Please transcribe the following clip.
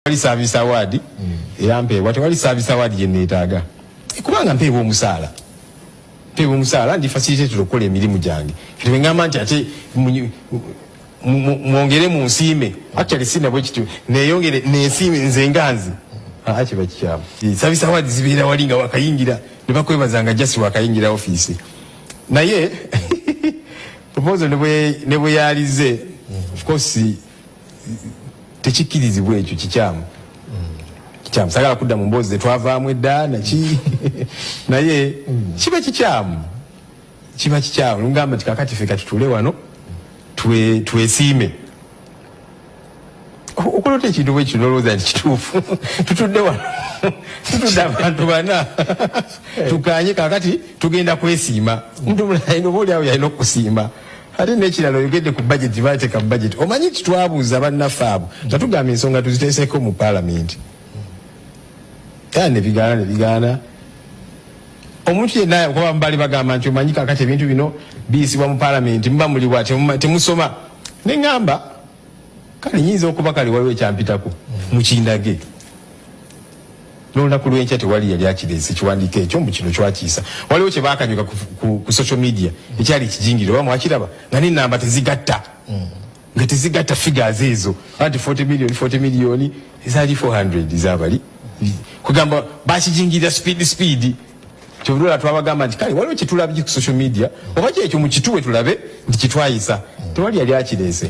tewali service award mm. era mpeebwa tewali service award gye neetaaga kubanga mpeebwa omusaala mpeebwa omusaala ndi facilitated okukola emirimu gyange kati bwe ngamba nti ate mwongere mu nsiime actually si nabwe kityo neeyongere neesiime nze nganzi aa kiba kikyamu service award zibeera wali nga wakayingira ne bakwebaza nga just wakayingira ofiisi naye proposal ne bwe yalize mm. of course tekikkirizibwa ekyo kikyamu kikyamu sagala kudda mu mboozi zetwavaamu edda naki naye kiba kikyamu kiba kikyamu lungamba nti kakati fe katutule wano twesiime okulota ekintu bwekyo nolowooza nti kituufu tutudde wano tutudde abantu bana tukanye kakati tugenda kwesiima omuntu mulala yina oba oli awo yalina okusiima ate nekirala oyogedde ku budget gyebateeka mu budget omanyi nti twabuuza bannaffe abo nga tugamba ensonga tuziteeseko mu palamenti era nebigaana nebigaana omuntu yenna okuba mubali bagamba nti omanyi kakati ebintu bino biyisibwa mu palamenti muba muliwa temusoma neŋamba kale nyinza okuba kale waliwo ekyampitako mukindage nolunaku lwenkya tewali yali akirese kiwandiiko ekyo mbu kino kyakiisa waliwo kye baakanyuka ku, ku, ku social media ekyali kijingire oba mwakiraba nga nenamba tezigatta mm. nga tezigatta figures ezo anti 40 million 40 million ezali 400 zabali kugamba bakijingirira speed speed kyovulula twabagamba nti kale waliwo kyetulabye ku social media oba kyekyo mukituwe tulabe nti kitwayisa tewali yali akirese